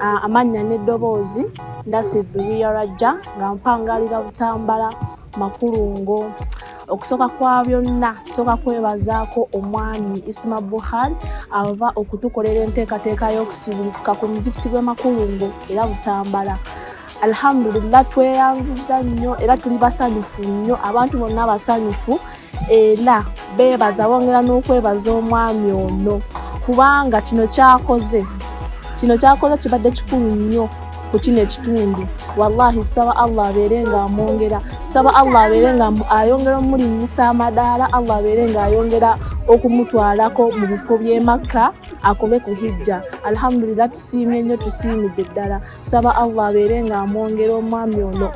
Ah, amannya n'eddoboozi ndasi biriya rajja nga mpangalira butambala makulungo okusooka kwa byonna tusooka kwebazaako omwami isima buhari ava okutukolera enteekateeka y'okusibulukuka ku muzikiti gw'e makulungo era butambala alhamdulillah tweyanziza nnyo era tuli basanyufu nnyo abantu bonna basanyufu era beebaza bongera n'okwebaza omwami ono kubanga kino kyakoze kino kyakoze kibadde kikulu nnyo ku kino ekitundu wallahi saba allah abeere nga amwongera saba allah abeere nga ayongera omulinyisa amadaala allah abeere nga ayongera okumutwalako mu bifo by'emakka akobe ku hijja alhamdulillah tusiimye nnyo tusiimidde ddala tusaba allah abeere nga amwongera omwami ono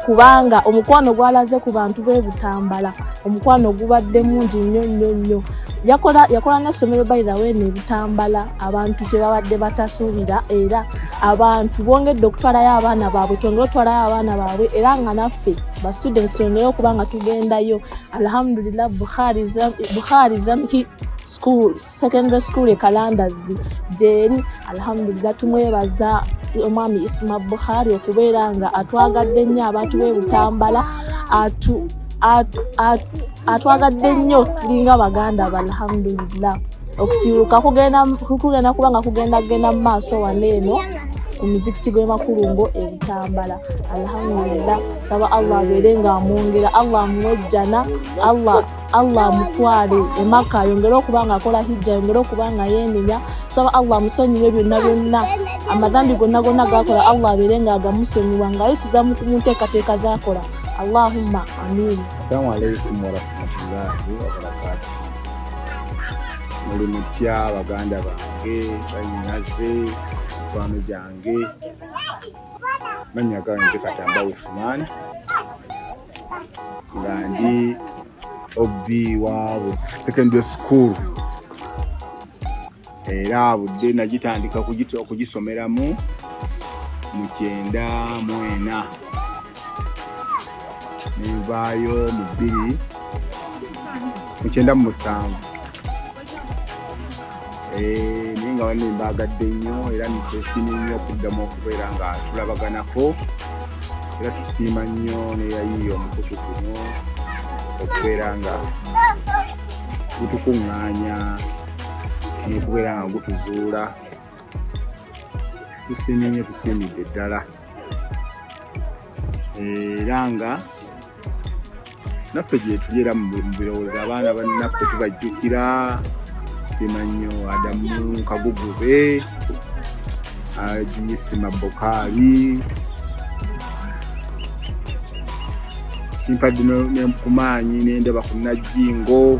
kubanga omukwano gwalaze ku bantu be butambala omukwano gubadde mungi nnyo nnyo nnyo yakola yakola n'essomero by the way nebutambala abantu kye babadde batasuubira era abantu bongedde okutwalayo abaana baabwe twongere otwalayo abaana baabwe era nga naffe ba students twongere okuba nga tugendayo alhamdulillah bukhari zamhi school secondary school e kalandazi gyeri alhamdulillah tumwebaza omwami isma bukhari okubeera nga atwagadde nnyo abantu be butambala atu atwagadde nnyo tulinga baganda ba alhamdulillah okusibuka kugenda kuba nga kugenda genda mu maaso wano eno ku muzikiti gw'emakulungo ebitambala alhamdulillah saba allah abeere nga amwongera allah amuwejjana allah Allah amutwale emaka ayongere okuba nga akola hijja ayongere okuba nga yenenya tusaba Allah amusonyiwe byonna byonna amadhambi gonna gonna gakola Allah abeere nga agamusonyiwa nga ayisiza mu nteekateeka zakola Allahumma amin. Assalamu alaikum warahmatullahi wabarakatuh. Muli mutya baganda bange banyinaze mikwano gyange mannya gange katamba usumani nga ndi ob wa secondary school era budde nagitandika okugisomeramu mu kyenda mwena nenvaayo mu bbiri mu kyenda mu musanvu Eh, naye nga banne mbaagadde nnyo era nitwesiimye nnyo okuddamu okubeera nga tulabaganako era tusiima nnyo neyayiiya omukutu guno okubeera nga gutukuŋŋaanya nokubeera nga gutuzuula tusiimye nnyo tusiimidde ddala era nga naffe gyetuli era mu birowoozo abaana banaffe tubajjukira siima nnyo adamu kagugube agiyisima bokaali mpadde nkumaanyi nendaba ku najjingo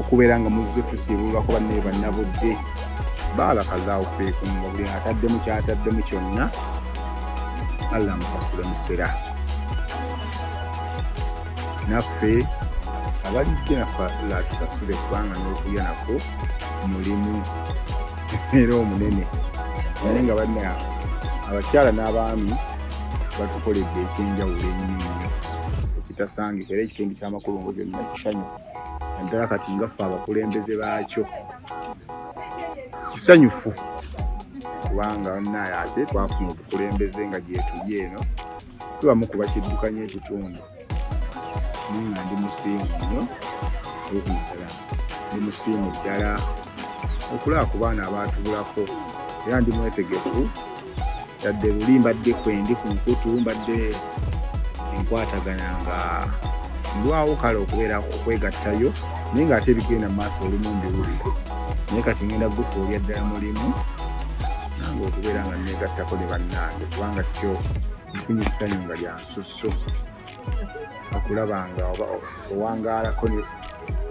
okubeera nga muzze tusiibululako bannaye bannabudde baalakazaawo feeku mu mubuli ataddemu kyataddemu kyonna allah amusasule musera naffe abalidde nafa latusasule kubanga n'okulya nako mulimu era omunene naye nga banna abakyala n'abaami batukoledde ekyenjawulo ennyo ekitasangika era ekitundu amakulu ngo byonna kisanyufu naddala kati nga ffe abakulembeze baakyo kisanyufu kubanga naye ate twafuna obukulembeze nga gyetuli eno tubamu kuba kiddukanya ekitundu naye nga ndi musiimu nnyo ekumusala ndi musiimu ddala okulaba ku baana abaatubulako era ndi mwetegefu tadde luli mbadde kwendi ku nkutu mbadde enkwatagana nga ndwawo kale okubeera okwegattayo naye ng'ate ebigenda mu maaso olumu mbiwulire naye kati ngenda gufuulya ddala mulimu nange okubeera nga negattako ne bannange kubanga kyo nfunye essanyu nga lyansusso okulaba nga oba owangaalako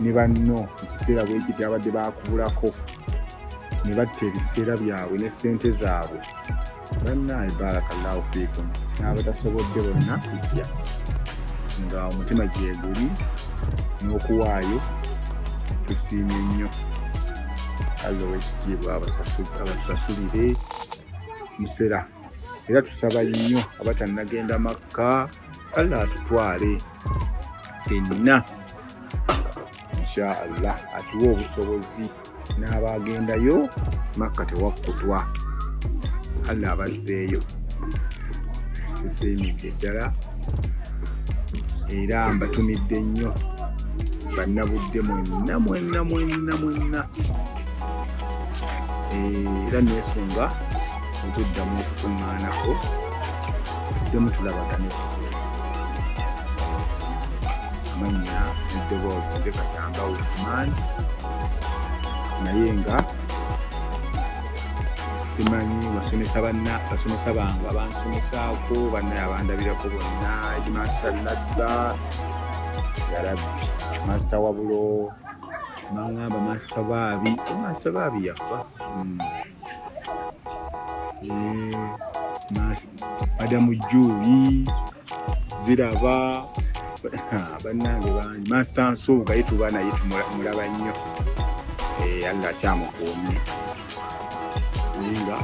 ne banno mu kiseera bwekiti abadde bakubulako ne batta ebiseera byabwe ne ssente zaabwe bannaayi barakallahu fiikum n'abatasobodde bonna kujja nga omutima gyeguli n'okuwaayo tusiimye nnyo allah owekitiibwa abatusasulire musera era tusaba nnyo abatannagenda makka allah atutwale fenna insha allah atuwe obusobozi n'abaagendayo makka tewakkutwa allah abazzeeyo tusiimidde ddala era mbatumidde nnyo bannabudde mwenna mwenna mwenna mwenna era nesunga okuddamu okukuŋŋaanako tuddemu tulabagane amannya eddoboozi nze katamba usman naye nga simanyi basomesa banna basomesa bange abansomesaako bannaye abandabirako bonna edmaster nassa yarabbi master wabulo mangamba master baabi master baabi yafa hmm. adamu eh, juli ziraba bannange bangi masita nsuubuga ye tuba naye tumulaba nnyo eh, allah akyamukuumye nga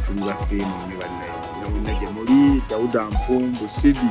tuli basiimu ne bannaye nabonna gye muli dawuda mpumbu sidi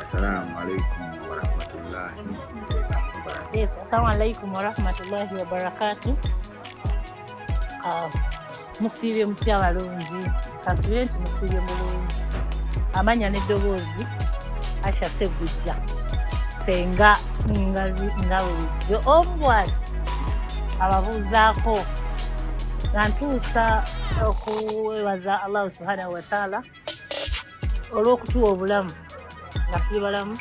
Assalamu alaikum warahmatullahi wabarakatuh. Yes, assalamu alaikum warahmatullahi wabarakatuh. Uh, musiibye mutya balungi kasubire nti musiibye mulungi amanya n'eddoboozi asha segujja senga ngazi nga bulijjo omu bwati ababuuzaako nga ntuusa okuwebaza allahu subhanahu wataala olw'okutuwa obulamu nga tuli balamu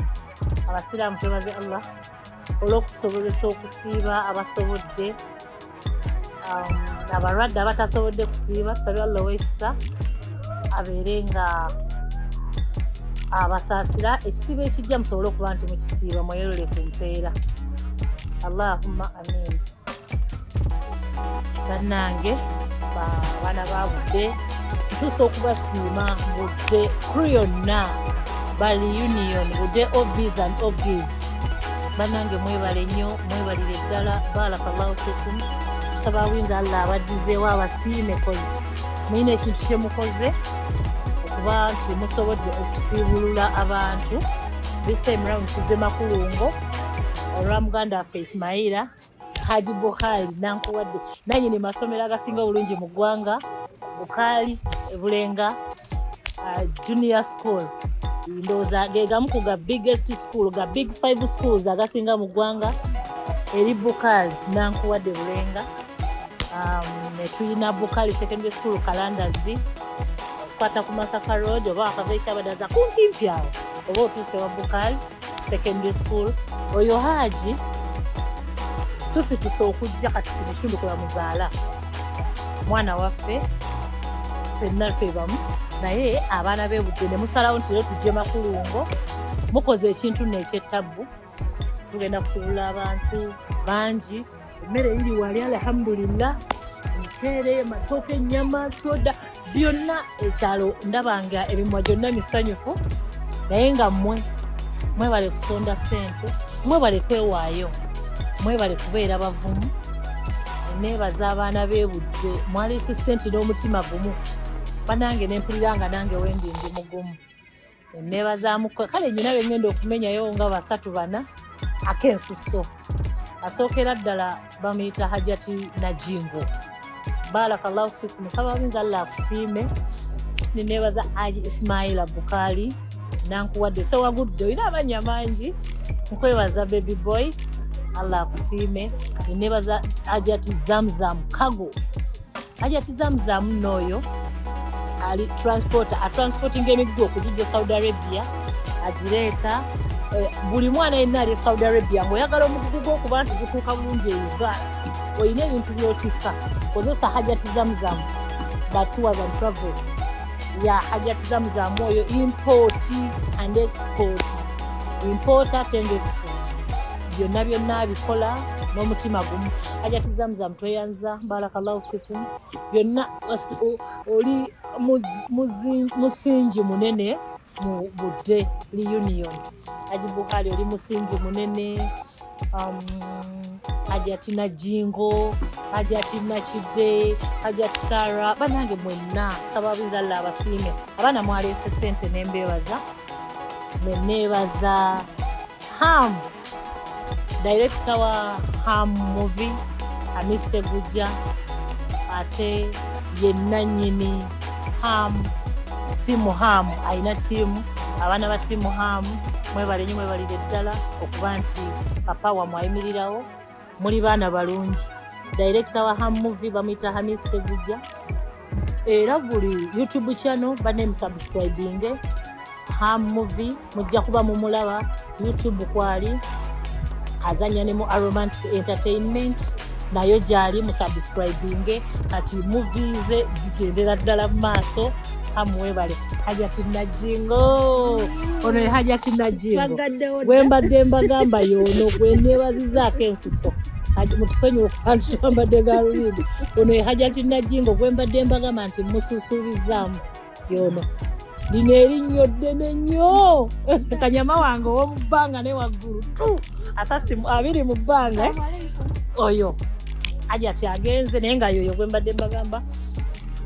abasiraamu twebaze allah olw'okusobozesa okusiiba abasobodde um, abalwadde abatasobodde kusiiba tusabe allah owekisa abeere nga abasaasira ekisiibo ekijja musobole okuba nti mukisiiba mweyolole ku mpeera allahumma amin bannange baana babudde tutuusa okubasiima budde kru yonna bali union budde obs and obs bannange mwebale nnyo mwebalire ddala barakallahu fikum tusaba winza allah abaddizeewo abasiime kozi mulina ekintu kyemukoze okuba nti musobodde okusiibulula abantu this time round tuze makulungo olwa muganda waffe ismaila haji bukhali nankuwadde nanye ne masomero agasinga obulungi mu ggwanga bukhali ebulenga uh, junior school ndowooza gegamu ku ga biggest school ga big five schools agasinga mu ggwanga eri bukhali nankuwadde bulenga um, netulina bukhali secondary school kalandazi okukwata ku masaka road oba wakava ekyabadaza kumpimpi awo oba otuuse wa bukhali secondary school oyo haji tusituse okujja kati kino ekitundu kwe bamuzaala mwana waffe fenna twebamu naye abaana bebudde ne musalawo nti leero tujje makulungo mukoze ekintu neekyettabu tugenda kusubula abantu bangi emmere iri wali alhamdulillah omuceere matooke ennyama soda byonna ekyalo ndabanga ebimwa gyonna misanyufu naye nga mmwe mwebale kusonda ssente mwebale kwewaayo mwebale kubeera bavumu neebaza abaana bebudde mwaleese ssente n'omutima gumu banange nempulira nga nange wendi ndi mugumu emmeeba za mukwe kale nyina be ŋŋenda okumenyayo nga basatu bana ak'ensusso asookera ddala bamuyita hajati najingo barakallahu fikum nsaba binza allah akusiime neneebaza aji ismaila bukaali nankuwadde sewagudde olina amannya mangi nkwebaza baby boy allah akusiime neneebaza ajati zamzam kago hajati zamzamu nooyo ali transporter atransportinga emigugu okugijja saudi arabia agireeta eh, buli mwana yenna ali e saudi arabia ngaoyagala omugugu gwokuba nti gutuuka bulungi eyuga olina ebintu byotikka kozesa hajati zamzamu batuwa za travel ya hajati zamzamu oyo import and export import ate nga export byonna byonna abikola n'omutima gumu hajati zamzamu tweyanz barakallahu fikum byonna oli musingi munene mu budde reunion aji buhari oli musingi munene um, hajati najingo hajati nakidde hajati sara banange mwenna saba bizalla abasiime abaana mwaleese sente nembeebaza neneebaza hamu Dayirekita wa Ham Movie Hamis Ssegujja ate ye nnannyini Ham tiimu Ham alina tiimu abaana ba tiimu Ham mwebale nnyo mwebalire ddala okuba nti papa wamwe ayimirirawo muli baana balungi. Dayirekita wa Ham Movie bamuyita Hamis Ssegujja. era buli youtube channel bane musubscribinge ham movie mujja kuba mumulaba youtube kwali azanya ne mu aromantic entertainment nayo gyali musubscribinge kati muvi ze zigendera ddala mu maaso amuwebale hajati najingo ono ye hajati najingo gwembadde mbagamba yono gwenebazizaako ensiso hajati mutusonyiwe kubantu twambadde galubindi ono ye hajati najingo gwembadde mbagamba nti mususuubizaamu yono lino erinnyo ddene nnyo kanyama wange ow'omu bbanga ne waggulu tu asasi abiri mu bbanga oyo hajati agenze naye nga yoyo gwembadde mbagamba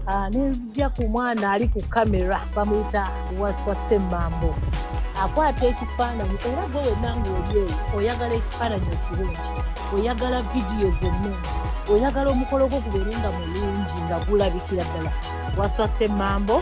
Ah, nenzija ku mwana ali ku kamera bamuyita waswa semmambo akwata ekifaananyi era gwe wenna ngaoli oyo oyagala ekifaananyi ekirungi oyagala vidiyo zennungi oyagala omukolo gwo gubeere nga mulungi nga gulabikira ddala waswa semmambo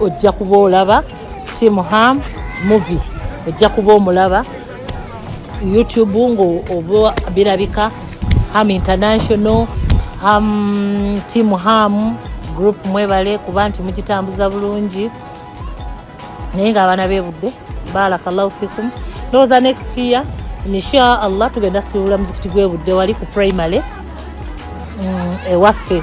ojja kuba olaba team ham movie ojja kuba omulaba youtube ngaoba birabika ham international ham team ham group mwebale kuba nti mugitambuza bulungi naye nga abaana bebudde barakallahu fikum ndowooza next year insha allah tugenda siwula muzikiti gwebudde wali ku primary mm, ewaffe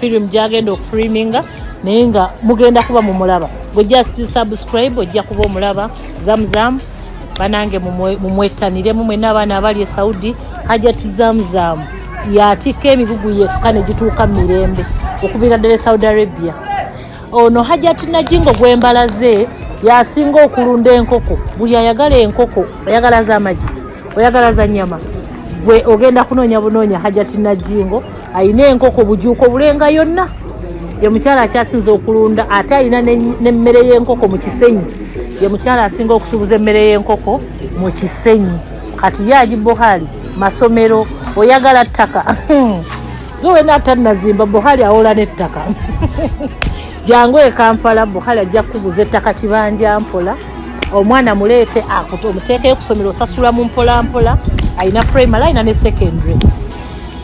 film gyagenda okufreaminga naye nga mugenda kuba mumulaba gwe just subscribe ojja kuba omulaba zamzam banange mumwettaniremu mwena abaana abali e saudi hajat zamzam yatikka emigugu yekka negituuka mu mirembe okubira ddala e saudi arabia ono hajat najingo gwembalaze yasinga okulunda enkoko buli ayagala enkoko oyagala zamagi oyagala za nyama gwe ogenda kunoonya bunoonya hajat najingo alina enkoko bujuuko bulenga yonna ye mukyala akyasinza okulunda ate alina n'emmere y'enkoko mu kisenyi ye mukyala asinga okusuubuza emmere y'enkoko mu kisenyi kati ye ali buhali masomero oyagala ttaka ge wena atannazimba buhali awola n'ettaka jangu ekampala buhali ajja kukubuza ettaka kibanja mpola omwana muleete omuteekeyo kusomero osasula mu mpolampola alina primary alina ne secondary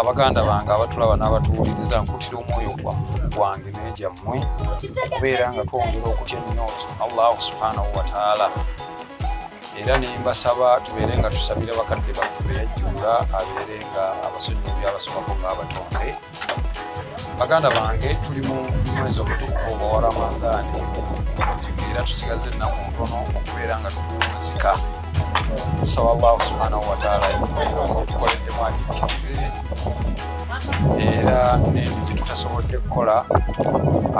abaganda ah, bange abatulaba n'abatuwuliriza nkutira omwoyo gwange negyammwe okubeera nga twongera okutya ennyo allahu subhanahu wataala era nembasaba tubeere nga tusabira bakadde baffe beyajjula abeere nga abasonyiwa byabasobako ngaabatonde baganda bange tuli mu mwezi omutukuvu ogwa wa ramadhani era tusigaza ennaku ntono okubeera nga tukuwunzika tusaba allahu subhanahu wataala otukoleddemu agikkirize era n'ebyo gye tutasobodde kukola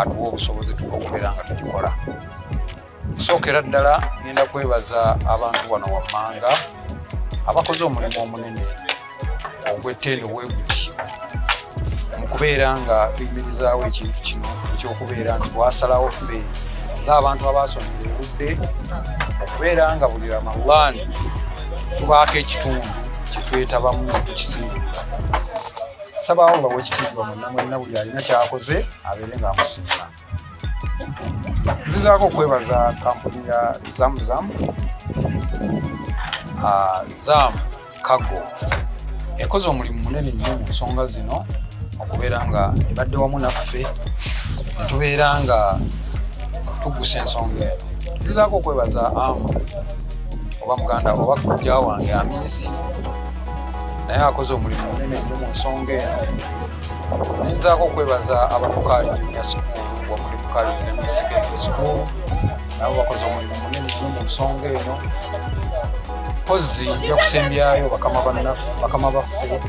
atuwa obusobozi tuba okubeera nga tugikola Sookera ddala ngenda kwebaza abantu wano wammanga abakoze omulimu omunene ogw'ettendo webuti mu kubeera nga tuyimirizaawo ekintu kino ekyokubeera nti bwasalawo ffe ng'abantu abaasomera erudde okubeera nga buli ramalaani tubaako ekitundu kyetwetabamu tukisinga saba allah wekitiibwa munamwenna buli alina kyakoze abeere ng'amusiima nzizaako okwebaza kampuni ya zamzam ah, zam kago ekoze omulimu munene nnyo mu nsonga zino okubeera nga ebadde wamu naffe netubeera nga tugusa ensonga eno nzizaako okwebaza amu oba muganda oba kujja wange aminsi naye akoze omulimu munene nnyo mu nsonga eno nyinzaako okwebaza ababukaali junior school wamuli bukaali junior secondary school nabo bakoze omulimu munene nyo mu nsonga eno mpozi nja kusembyayo bakama baffe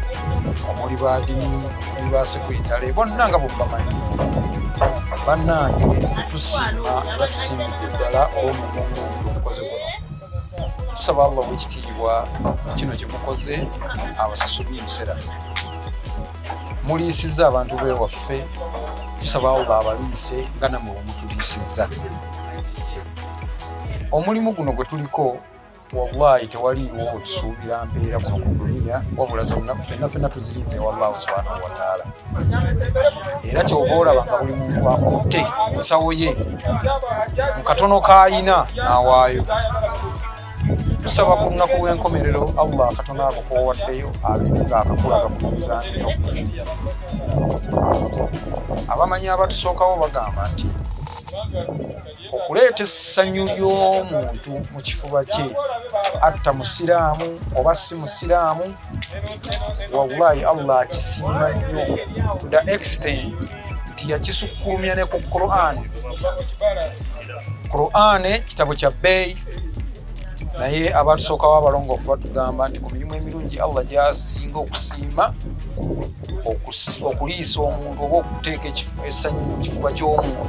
omuli badini omuli basekwitale bonna nga bwebamanyi bannange tusiima era tusiimidde ddala olwomulimu omukoze guno tusaba allah owekitiibwa kino kyemukoze abasasuli musera muliisizza abantu bewaffe tusaba allah abaliise nga namwe wemutuliisizza omulimu guno gwe tuliko wallahi tewaliiwo otusuubira mpeera kuno ku duniya wabula zonna fenna fenna tuzirinze wallahu subhanahu wataala era kyova olaba nga buli muntu akutte nsawo ye mu katono k'alina n'awaayo tusaba ku lunaku lw'enkomerero allah akatono ako kowaddeyo abeere nga akakulaga ku mizaaniyo abamanyi abatusookawo bagamba nti okuleeta essanyu ly'omuntu mu kifuba kye atta musiraamu oba si musiraamu wallahi allah akisiima nnyo to the extent nti yakisukkulumya ne ku quran quran kitabo kya bbeeyi naye abatusookawo abalongoofu batugamba nti ku mirimu emirungi allah gyasinga okusiima okuliisa omuntu oba okuteeka essanyu mu kifuba ky'omuntu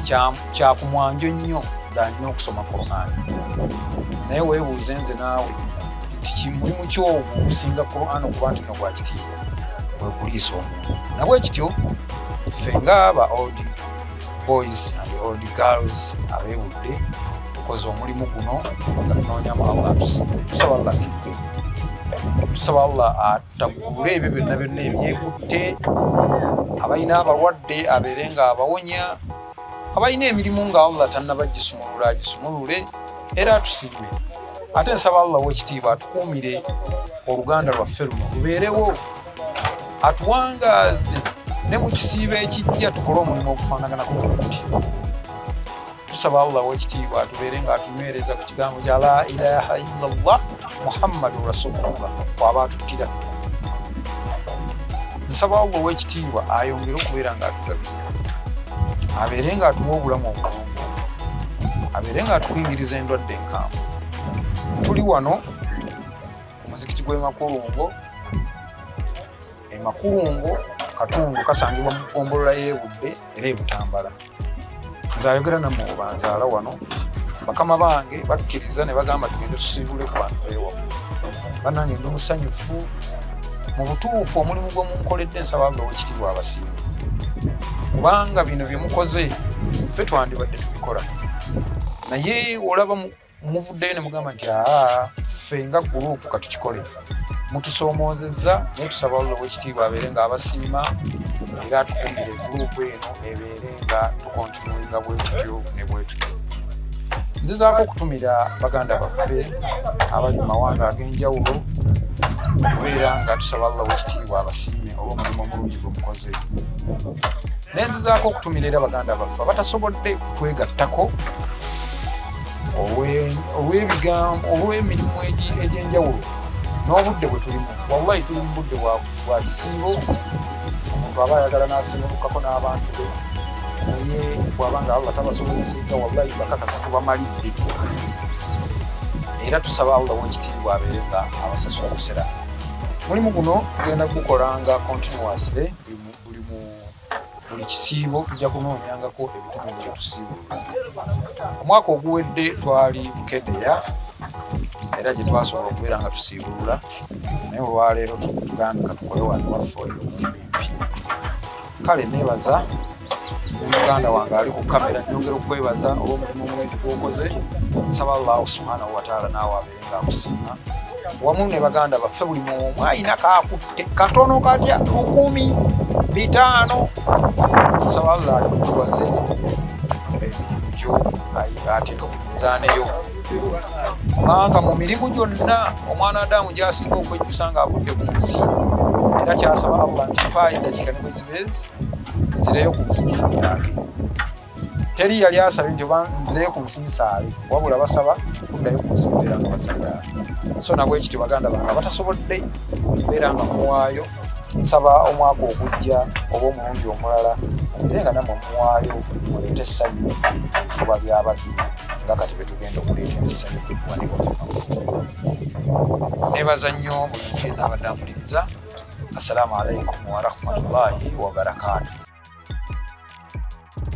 kyamu kyakumwanjo nnyo dhanyo okusoma quran naye webuuze nze naawe nti kimulimu kyomu okusinga quran okuba nti nogwakitiibwa wekuliisa omuntu nabwe kityo ffe nga aba old boys and old girls abewudde tukoze omulimu guno nga tunoonyamu allah atusiime tusaba allah akkirize tusaba allah atagule ebyo byonna byonna ebyekutte abalina abalwadde abeere nga abawonya abalina emirimu nga allah tannaba gisumulula agisumulule era atusibe ate nsaba allah wekitiibwa atukuumire oluganda lwaffe luno lubeerewo atuwangaaze ne mu kisiibo ekijja tukole omulimu ogufaanaganako bweguti tusaba allah wekitiibwa atubeere nga atunywereza ku kigambo kya la ilaha illallah muhammadu rasulullah waba atuttira nsaba allah wekitiibwa ayongere okubeera nga atugabi abeere nga atuwa obulamu obulungi abeere nga atukingiriza endwadde enkambwe tuli wano omuzikiti gw'emakulungo emakulungo katundu kasangibwa mu gombolola y'ebudde era ebutambala nze ayogera nammwe obanzaala wano bakama bange bakkiriza ne bagamba tugende tusiibule ku bantu bewamu banange ndi musanyufu mu butuufu omulimu gwe munkoledde nsaba nga wekitibwa abasinga kubanga bino bye mukoze ffe twandibadde tubikola naye olaba muvuddeyo ne mugamba nti aa ffe nga guluupu katukikole mutusoomoozezza naye tusaba olwo wekitiibwa abeere nga abasiima era atukumbire guluupu eno ebe nga tukontinuinga bwetutyo ne bwetutyo nzizaako okutumira baganda baffe abali mu mawanga ag'enjawulo okubeera nga tusaba allah wekitiibwa abasiime olw'omulimu omulungi gwe mukoze naye nzizaako okutumira era baganda baffe abatasobodde kutwegattako olw'ebigambo olw'emirimu egy'enjawulo n'obudde bwe tulimu wallahi tuli mu budde bwabu bwa kisiibo omuntu aba ayagala n'asengukako n'abantu be naye bwaba nga allah tabasobozesezza wallahi bakakasa tubamalidde era tusaba allah wekitiibwa abeere nga abasasula kusera mulimu guno tugenda gukola nga continuously buli kisiibo tujja kunoonyangako ebitone byetusiibula omwaka oguwedde twali mukedeya era gyetwasobola okubeera nga tusiibulula naye olwaleero tugambye katukole wano waffe oyo omumbimpi kale nebaza muganda wange ali ku kamera nyongera okwebaza olwomulimu omwetu gwokoze nsaba allahu subhanahu wataala naawe akusiima wamu ne baganda baffe buli muomu ayina kakutte katono katya lukumi bitaano nsaba allah ayotuwaze emirimu gyo ateeka ku minzaaneyo kubanga mu mirimu gyonna omwana adamu gyasinga okwejjusa nga avudde ku nsi era kyasaba allah nti mpaayo eddakiika ne bwezibeezi nzireyo ku businza bwange teri yali asabye nti oba nzireyo ku nsi nsaale wabula basaba kuddayo ku nsi kubeera nga basagaala so nabwe ekityo baganda bange abatasobodde kubeera nga muwaayo nsaba omwaka ogujja oba omulundi omulala mubire nga namwe muwaayo muleete essanyu ebifuba byabaddu nga kati betugenda okuleetera essanyu nebaza nnyo buli muntu yenna abadde ampuliriza assalamu alaikum warahmatullahi wabarakaatu